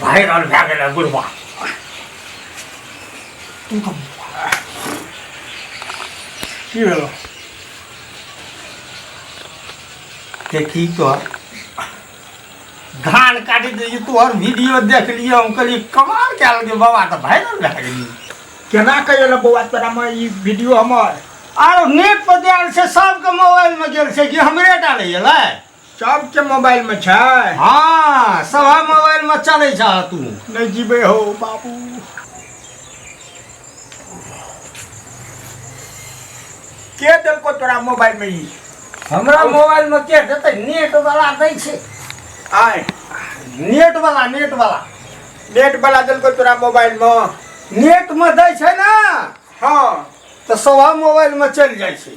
Viral भए गेलै बुढ़बा की भेल देखी तोहर धान काटि देली तोहर वीडियो देख लियो हम कहली कमाल कए लेलियै बाबा तऽ भाइरल भए गेली केना कहियो ने बौआ तोरा में ई वीडियो हमर आरो नेट पर दे आयल छै सबके मोबाइल में गेल छै कि हमरे टा ले गेलै सबके मोबाइल में छै हाँ सब मोबाइल में चले छ तू नहीं जीबे हो बाबू के देलको तोरा मोबाइल में ई हमरा मोबाइल में के देते नेट वाला दै छै आय नेट वाला नेट वाला नेट वाला देलको तोरा मोबाइल में नेट में दै छै ना हाँ तो सब मोबाइल में चल जाइ छै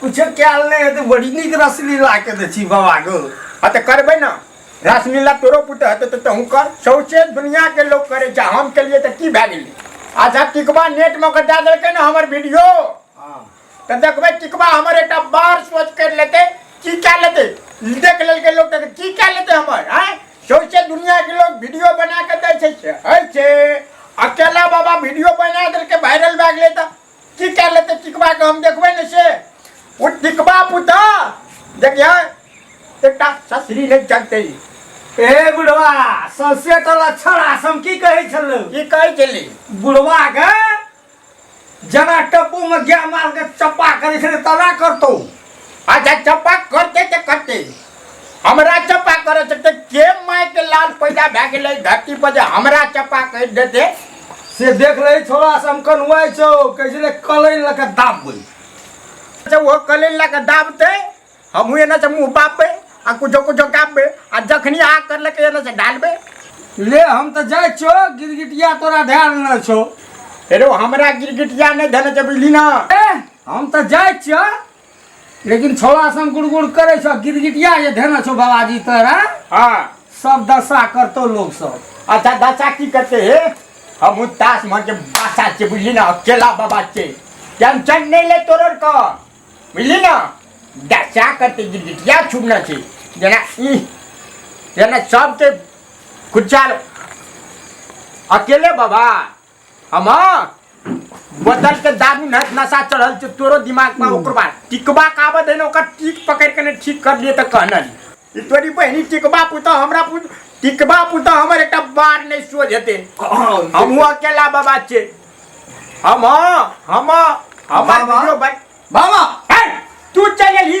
कुछ कयल नहि हेतै बड़ी नीक रसलीला के दै छी बाबा गो आ तऽ करबै ने रसलीला तोरो पुत हेतै तऽ तहूँ कर सौचे दुनिया के लोग करे छै हम केलिए तऽ की भए गेलै अच्छा टिकबा नेट मे कटा देलकै ने हमर वीडियो हाँ तऽ देखबै टिकबा हमर एकटा बार सोच कर लेते की कए लेते देख लेलकै लोग तऽ की कए लेते हमर आय सौचे दुनिया के लोग वीडियो बना के दै छै से है छै अकेला बाबा वीडियो बना देलकै वायरल भए गेलै तऽ की कए लेतै टिकबा के हम देखबै ने से ओ टिकबा पुता देखिए एकटा ससरी नहि जगतै ए बुढ़वा सौसे तो लक्षण आसम की कहै छलौ की कहै छली बुढ़वा के जना टप्पू में गाय माल के चप्पा करै छलै तना करतौ अच्छा चप्पा करते ते करते हमरा चप्पा करे से ते के माय के लाल पैदा भए गेलै धरती पर जे हमरा चप्पा कहि देते से देख रही थोड़ा सा हम कनुआई छो कैसे ले कलई लगा दाब गई से वो कले ला के दाबते हमहू एने से मुँह बापबे आ कुछो कुछो गाबबे आ जखनी आ कर लके एने से डालबे ले हम तो जाए छो गिरगिटिया तोरा ध्यान न छो अरे हमरा गिरगिटिया नहीं धने जब ली ना ए हम तऽ जाइ छियौ लेकिन छोड़ा सन गुड़ गुड़ करै छौ गिरगिटिया जे धेने छौ बाबाजी तोरा हाँ सब दशा करतौ लोग सब अच्छा दाचा की करते हे हम तास मन के बासा के बुझली ना अकेला बाबा के टेंशन नहीं ले तोरर का बुझली ना दाचा करते गिरगिटिया छुपना छे जना ई जना सबके कुचाल अकेले बाबा हमा बदल के दारू न नशा चढ़ल छै तोरो दिमाग पर ओकर बाद टिकबा काबत है न ओकर टिक पकड़ के ने ठीक कर लिए त कहना ई तोरी बहनी टिकबा पुता हमरा पुत टिकबा पुता हमर एकटा बार नहीं सोझ हेते हम हुआ अकेला बाबा छे हम हम हम बाबा? वीडियो बन बाबा है तू चल ही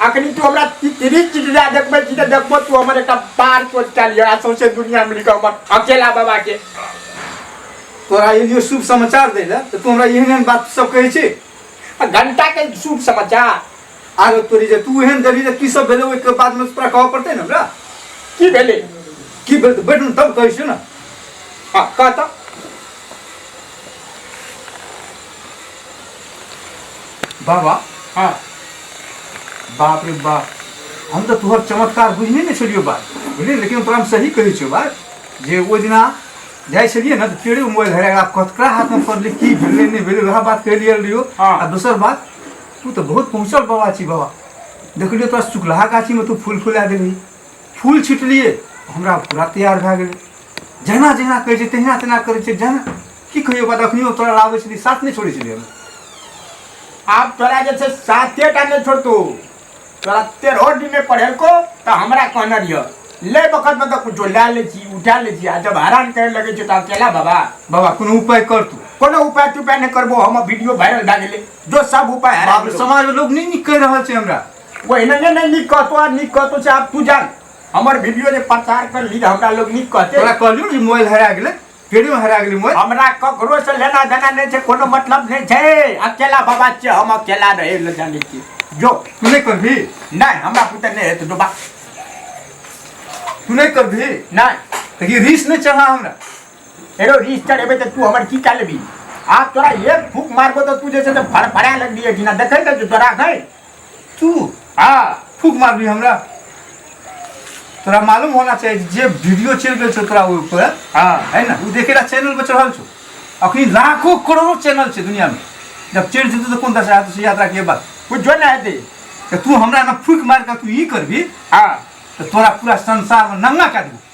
अखनी तू हमरा तिरी चिटिया देखबै छी तऽ देखबो तू हमर एकटा बार चोट कए लिअ आ सौंसे दुनिया मिल कऽ हमर अकेला बाबा के तोरा यदि शुभ समाचार दै लए तऽ तू हमरा एहन एहन बात सब कहै छी आ घंटा के शुभ समाचार आरो तोरी जे तू एहन देली जे की सब भेलै ओहिके बादमे तोरा कहऽ पड़तै ने हमरा की भेलै की भेल तऽ बैठ ने तब कहै छियौ ने हँ कह तऽ बाबा हाँ बाप रे बाप हम तऽ तोहर चमत्कार बुझने ने छलियो बात बुझलियै लेकिन तोरा हम सही कहै छियौ बात जे ओहि दिना जाइ छलियै ने तऽ पेड़े मोबाइल धरे आब कतका हाथमे पड़लै की भेलै नहि भेलै वएह बात कहि लियल रहियो हाँ। आ दोसर बात तू तऽ बहुत पहुँचल बाबा छी बाबा देखलियो तोरा चुकलाहा गाछीमे तू फूल फुला देलही फूल छिटलियै हमरा पूरा तैयार भए गेलै जहिना जहिना कहै छै तहिना तहिना करै छै जहिना की कहियो बात अखनियो तोरा लाबै छली साथ नहि छोड़ै छलियै हम आब तोरा जे छै साते टा नहि छोड़तो तोरा तेरहो दिनमे पढ़ेलको तऽ हमरा कहने रहियो ले बखत में तऽ कुछो लए लै छी उठा लै छी आ जब हरान करे लगै छै तऽ अकेला बाबा बाबा कोनो उपाय कर तू कोनो उपाय तुपाय नहि करबो हम वीडियो वायरल भए गेलै जो सब उपाय हरा बाप रे, समाज में लोग नहीं निक कह रहल छै हमरा ओहिना नहि नहि नीक कहतो आ नीक कहतो से आब तू जान हमर वीडियो जे प्रचार कर ली तऽ हमरा लोग नीक कहते तोरा कहलियो ने जे मोबाइल हरा गेलै केड़ियो हरा गेली मोय हमरा ककरो से लेना देना नहीं छै कोनो मतलब नहीं छै अकेला बाबा छियै हम अकेला रहे ले जाने छी जो तू नहीं करबी नहीं हमरा पुते नहीं हेत डोबा तू नहीं करबी नहीं तो ये रीस नहीं चढ़ा हमरा एरो रीस चढ़ेबे तो तू हमर की कर लेबी आ तोरा एक फूक मारबो तो तू जैसे तो फड़फड़ा लगबी है कि ना देखे तो तोरा गई तू आ फूक मार भी हमरा तोरा मालूम होना चाहिए जे वीडियो चल गए छो तोरा ऊपर हाँ है ना वो देखेला चैनल पर चढ़ल छो अखनी लाखों करोड़ों चैनल छे दुनिया में जब चढ़ जेतौ तो कौन दशा हेतौ से याद राखिए बात कुछ जो ना हेतै तो तू हमरा ना फूक मार कर तू ई करबी हाँ तो तोरा पूरा संसार में नंगा कर देबो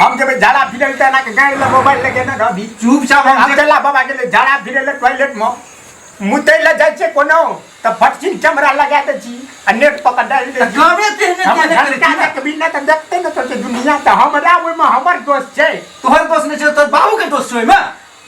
हम जब झाड़ा फिरे त ना के गाय ले मोबाइल लेके ना रहबी चुप चाप हम चला बाबा के ले झाड़ा फिरे ले टॉयलेट में मुतै ले जाइ छै कोनो त फटकिन कैमरा लगा दे छी आ नेट पर त डाल दे छी गवे ते ने हम तेने करे घंटा छी। तक बिना त देखते न सोचे दुनिया त हमरा ओइ में हमर दोस्त छै तोहर दोस्त ने छै तोहर बाबू के दोस्त छै ओइमे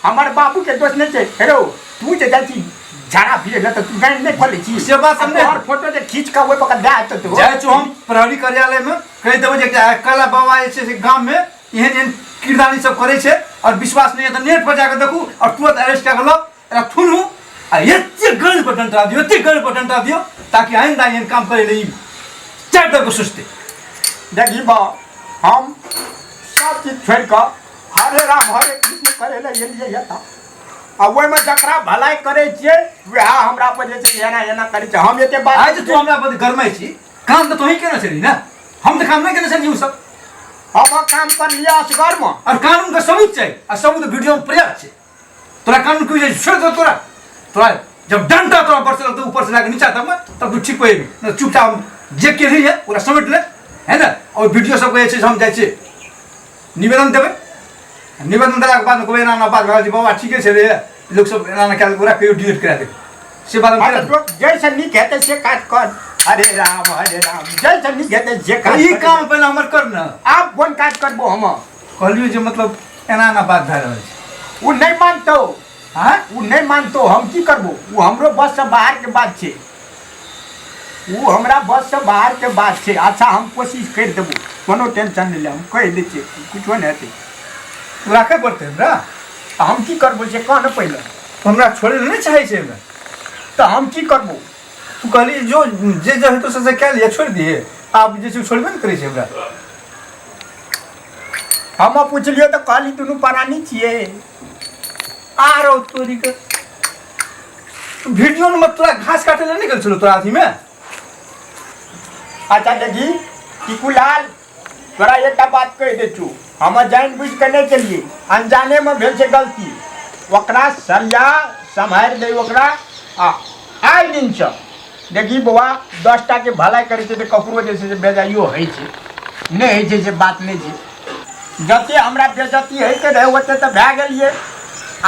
हमर बाबू के दोस्त नहीं छै हेरो तू जे जाइ छी झाड़ा फिरे ना तो तू गाड़ी नहीं खोले छी से बात हम तोहर फोटो जे खींच के ओए पकड़ दे आत तो जाइ छौ हम प्रहरी कार्यालय में कहि देबो जे एकटा कला बाबा जे छै से गाम में एहन एहन किरदानी सब करै छै और विश्वास नहीं है तो नेट पर जाकर देखू और तुरंत अरेस्ट कए गेलो एकरा थुनू आ एते गल पर डंटा दियो एते गल पर डंटा दियो ताकि आइंदा एहन काम करे ले चार दर को सोचते देखी बा हम सब चीज छोड़ के हरे राम हरे कृष्ण करे ले एलियै ये तऽ आ ओहिमे जकरा भलाइ करै छियै वएह हमरा पर जे छै एना एना करै छै हम एते बात आज तू हमरा पर गरमै छी काम तऽ तोही केने छली ने हम तऽ काम नहि केने छली उ सब हम काम कर लिया असगर में और कानून के सबूत चाहिए आ सबूत वीडियो में पर्याप्त छै तोरा कानून की वजह छोड़ दो तोरा तोरा जब डंडा तोरा बरसे तो ऊपर से लाके नीचा तब तब तू ठीक होएगी न चुपचाप जे के रही है पूरा समेट ले है ना और वीडियो सब कहे छे हम जाय छे निवेदन देबे निवेदन देला के बाद कोई ना ना बात भा जी बाबा ठीके छे रे लोग सब ना ना कह पूरा कहियो डिलीट करा दे से बात हम करा जैसे नी कहते से काट कर हरे राम हरे राम जैसे नी कहते जे काट ई काम पहले हमर कर ना आप फोन काट करबो हम कहलियो जे मतलब एना एना बात भए रहल छै ओ नहि मानतो हाँ ओ नहि मानतो हम की करबो ओ हमरो बस से बाहर के बात छै ओ हमरा बस से बाहर के बात छै अच्छा हम कोशिश कर देबो कोनो टेंशन नहीं ले हम कह दे छियै कुछो नहीं हेतै तू राखे पड़तै हमरा आ हम की करबो जे कह ने पहिले तो हमरा छोड़े नहीं चाहे छै एहिमे तो हम की करबो तू कहली जो जे जे हेतौ से से कए लिए छोड़ि दिहे आब जे छै छोड़बे ने करै छै हमरा हम पूछलियो तो कहली दुनू परानी छिए आ रहो तोरी के वीडियो में तोरा घास काटे ले निकल छलो तोरा अथी में अच्छा देखी कि कुलाल तोरा एकटा बात कह दे छू हम जान बुझ के नहीं चलिए अनजाने में भेल से गलती ओकरा सरिया सम्हारि दे ओकरा आ आइ दिन से देखी बौआ दस टाके भलाइ करै छै तऽ ककरो जे छै से बेजाइयो होइ छै नहि होइ छै से बात नहि छै जते हमरा बेजती होइके रहै ओते तऽ भए गेलियै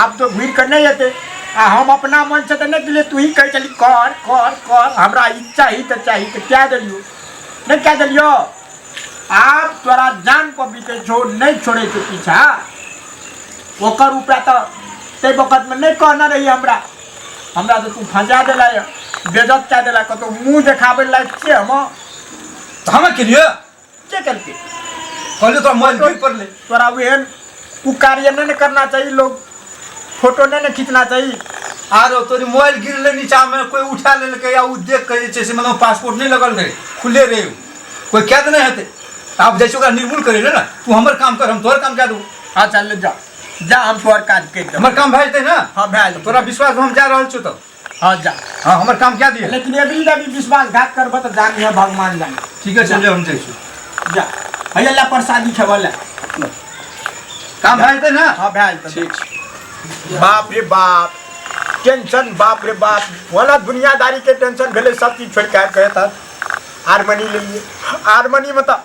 आब तऽ घुरि कऽ नहि एतै आ हम अपना मन से तऽ नहि दिले तू ही कहै छली कर कर कर हमरा ई चाही तऽ चाही तऽ कए देलियो नहि कए देलियो आब तोरा जान पर बिकै छो नहि छोड़े के पीछा ओकर उपाय तऽ ताहि वक्त में नहीं कहना रही हमरा हमरा तऽ तू फँसा देला यऽ बेजत कए देला कतहु मुँह देखाबै लए छियै हम तऽ हमे केलियै के केलकै कहलियै तोरा मोबाइल गिर पड़लै तोरा ओहन ओ कार्य नहि ने करना चाही लोग फोटो नहि ने खींचना चाही आरो तोरी मोबाइल गिरले नीचा में कोई उठा लेलकै या ओ देख के जे छै से मतलब पासपोर्ट नहीं लगल रहे खुले रहे उ। कोई कैद नहीं हेतै आब जाइ छै ओकरा निर्मूल करे ले ने तू हमर काम कर हम तोहर काम कए देबो अच्छा ले जा जा हम तोहर काज करि देब हमर काम भए जेतै ने हँ भए जेतै तोरा विश्वास हम जा रहल छियौ तऽ हँ जा हँ हमर काम कए दिअ लेकिन अभी जब विश्वासघात करबह तऽ जानी है भगवान जानी ठीके छै हम जाइ छी जा हैया ले प्रसादी खेबऽ ले काम भए जेतै ने हँ भए जेतै ठीक छै बाप रे बाप टेंशन बाप रे बाप वाला दुनियादारी के टेंशन भेलै सब चीज छोड़ के आबि कऽ एतऽ हारमोनी लेलियै हारमोनी मतलब